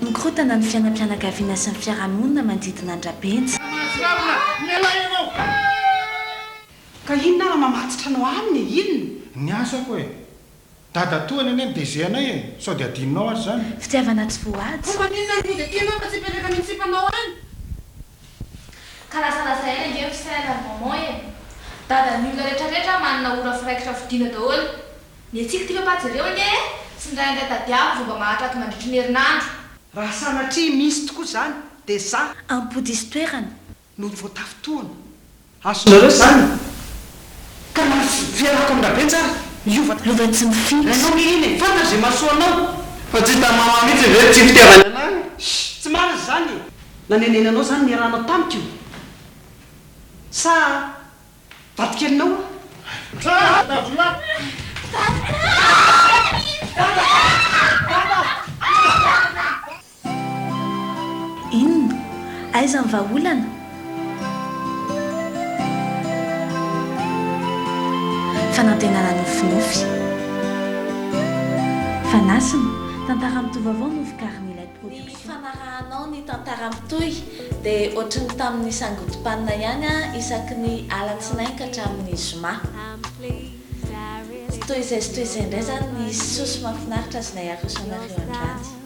Mikorontana ny fiainam-pianakaviana sy ny fiarahamonina manodidina an-dRabenja. Ka inona ara mamatotra anao aminy e? Inona? Ny asako e! Dadatoa ny anay mideje anay e! Sao dia adinonao ary izany? Fitiavana tsy voahaja. Fa maninona ary moa dia tianao fa tsy hipetraka any amin'ny sipanao any? Ka lazalaza ela ange ry sœur ary maman e! Dadan'ny olona retraretra manana ora firaikitra fodiana daholo. Ny antsika ity papa jereo ange e! Tsindraindray tadiavo vao mba mahatraty mandritry ny herinandro. Raha sanatria misy tokoa izany dia za. Ampodiso toerana. no voatafy tohana. Azonareo izany? Ka na tsy dia lakon Rabe tsara hiova tamin'ny Ray tsy mifidy. Rainao nge iny e! Fantany izay mahasoa anao. Fa tsy hitan'i Mama mihitsy ve ny tsy fitiavany anao e? Shh! Tsy marina izany e! Nanenena anao izany niarahanao tamiko io? Sa vadikelinao aho? Dada! Inona? Aiza ny vahaolana? Fanantenana nofinofy. Fanasina, tantara mitohy vaovao no vokarin'ilay production. Ny fanarahanao ny tantara mitohy dia ohatry ny tamin'ny sangodim-panina ihany an, isaky ny alatsinainy ka hatramin'ny zoma. Tsy toy izay sy toy izay indray izany ny soa sy mahafinaritra azonay aroso anareo androany.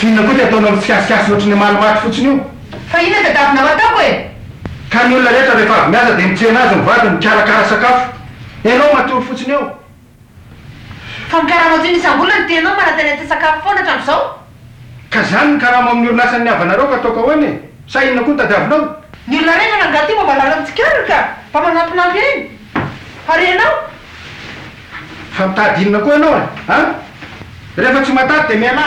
F'inona koa ny ataonao amin'ny fihasiasina ohatry ny hamaly maty fotsiny io? Fa inona tadiavinao ataoko e? Ka ny olona rehetra rehefa avy miasa dia mitsena azy ny vadiny mikarakara sakafo. Ianao matory fotsiny eo. Fa ny karama atsimo isam-bolana dia ianao manantena te-sakafo foana hatramin'izao. Ka izany ny karama ao amin'ny orinasan'ny havanareo ka ataoko ahoana e? Sa inona koa no tadiavinao? Ny olona rehetra nangaha aty mba valala mitsikaririka, mba manampinampy eny. Ary ianao? Fa mitady inona koa ianao e? An? Rehefa tsy matady dia mialà!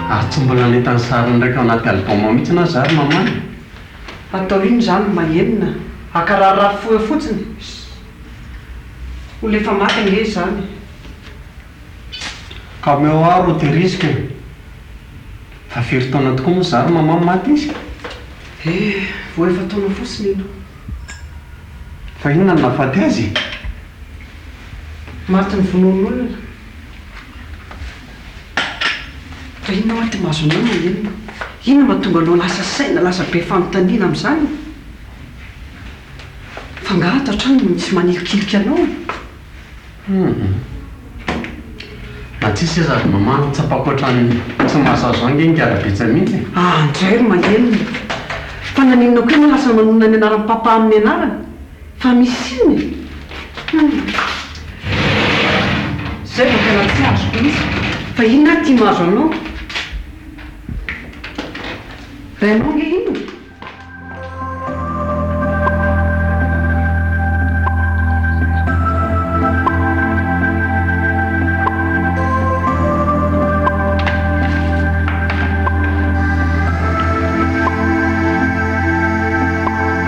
Ary tsy mbola nahita ny sariny ndray tao anaty album mihitsy aho za ry maman e! Atao inn zany ma enina aka raha rafoha fotsiny olo efa maty ange izany e! Ka omeo aho ro tehiriziko e! Fa firy taona tokoa moa za ry maman no maty izy? Eh! Vao efa-taona fotsiny iny. Fa inona no nahafaty azy e? Maty novonoin'olona. Fa inona ary ity masonao Maninona? Inona no mahatonga anao lasa saina, lasa be fanontaniana amin'izany? F'angaha ato an-trano no misy manilikiliky anao? Hum. Na tsia seza ry Mama, tsapako hoatran'ny tsy mahasazo ahy ange ny kara-betsa mihitsy e! Aa ndray ry Maninona! Fa naninona koa ianao lasa manonona ny anaran'i Papa amin'ny anarany? Fa misy inona e? Hum. Izay vao tena tsy azoko mihitsy fa inona ary ity mahazo anao? Rainao ange inona?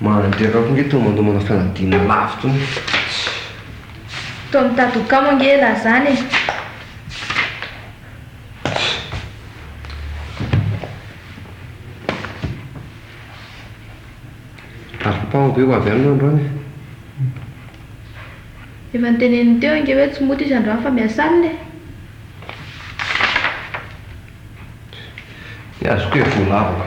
Mandeha angamba ange tony mandomana fanadinana lavo tony tsy. Toa mitady ho kamo ange elah zany e! Afa-paho ve ho avy any ianao androany e? Efa noteneniny teo ange hoe tsy mody izy androany fa miasa alina e! Dia azoko e! Voalavako.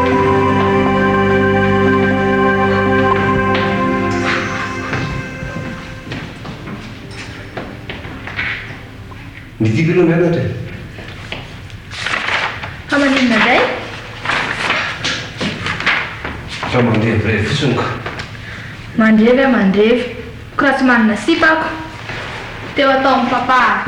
Midika aloha mianatra e! Fa maninona indray? Fa mandevy fotsiny ko! Mandevy aho mandevy, ko raha tsy manana sipa ako! Teo ataon'i Papa.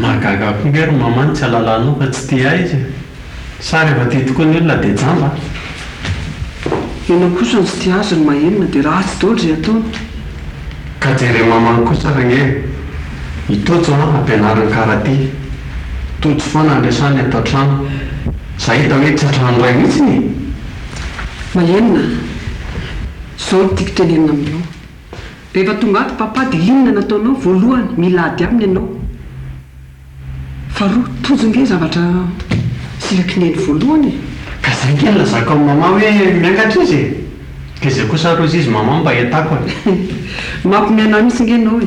Mahagaga akory nga ry maman tsy alalanao fa tsy tia aiza e! Sa rehefa tia tokoa ny olona dia jamba an! Ianao kosa no tsy tia azy ry mahenina dia ratsy daoly izay ataony. Ka jere maman kosa ary ange e! I Tojo an ampianariny karate. Tojo foana no resahiny ato an-trano. Za hita hoe tsy an-trano iray mihitsiny e! Maheno na? Zao no tiako tenenina aminao. Rehefa tonga ato Papa dia inona no ataonao? Voalohany, mila ady aminy ianao. Faharoa, tojo nge zavatra silaky neny voalohany e! Ka zay nge no lazako amin'i Maman hoe miangatra izy e! Dia zay kosa aroz'izy Maman mba iatako e! Mampimehy anah mihitsy nge ianao e!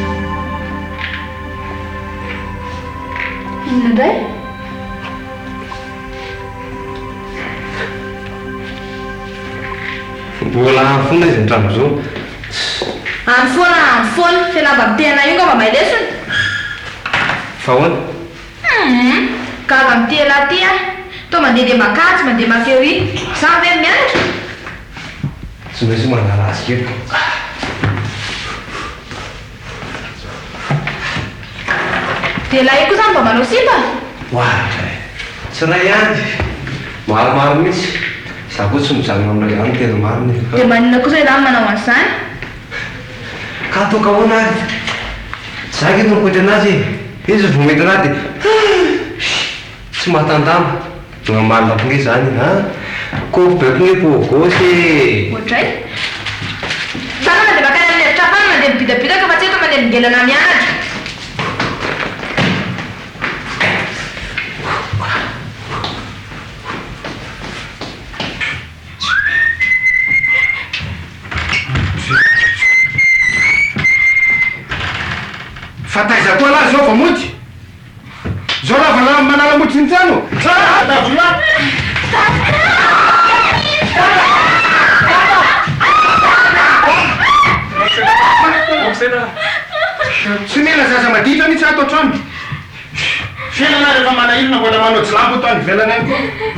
Inona indray? Mbola any foana izy hatramin'izao. Any foana, any foana. Ilay lamba mitehana io angamba may lesona? Fa ahoana? Humm! Gaga amin'ity elah ity aho. Toa mandeha dia makajy, mandeha mafy ery. Izaho ve no mianatra? Tsy maintsy manala azy kely koa. Dia ilay koa izany vao manao sipa? Oa dray! Tsy iray ihany, maromaro mihitsy. Izaho koa tsy mijanona amin'ilay izany no tena marina e! Dia maninona kosa izaho no manao an'izany? Ka atao ka ahoana ary? Izaho ange no mikoitra an'azy e! Izy vao midina dia, Hum! Tsy mahatanjamba. Tena marina be zany a! Kôry be kle pour gauche e! Ohatray? Tsara mandeha makany amin'ny efitra hafa any mandeha mibidabidaka fa tsy eto manelingelina na mianatra. Fa taiza koa lah zao vao mody? Zao ravana manala mody Jinjano! Tsara Davina! Tsy omena zaza maditra mihitsy ato an-trano! Fiainana ary efa manahirana mbola manao jilambo eto any ivelany any!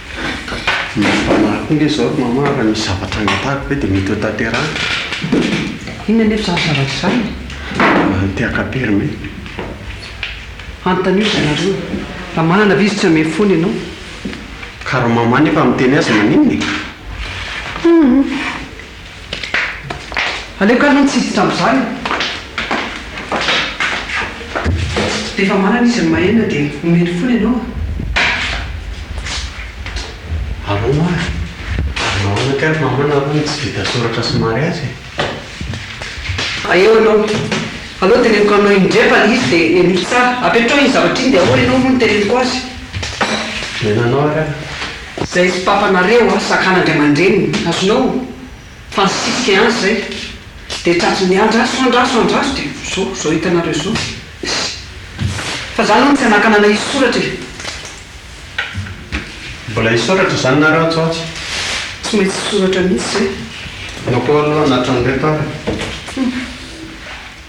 Ny fanahy koa nge zao ry mama raha misy zavatra angatahiko ve dia mety ho tanterahiko? Inona anefa izany zavatra izany? Ny te-hakam-pery me. Anontanio ry zareo raha manana ve izy tsy hamehy foana ianao. Ka raha mama nefa miteny azy maninona e? Hum. Aleoko aloha ny tsy hiditra amin'izany. Rehefa manana izy ny mahainina dia omeny fony ianao a! Alou a! Ary nahoana kay ry maman nareo no tsy vita soratra sy mariazy e? Hay eo ianao. Alou teneniko aminao indray fa le izy dia henoiko tsara. Apetraho iny zavatra iny dia ahoana ianao moa no teneniko azy? Nenanao ary aho. Zay tsy papanareo a sakana ndray aman-dreniny azonao fa nisisika an zay de tratrin'ny andraso andraso andraso de zo zao hitanareo zao sy fa zany hono tsy anakanana hisoratra e. Mbola hisoratra zany nareo atsy ho atsy? Tsy maintsy hisoratra mihitsy zay. Anao koa aloha anatran'ireto ary.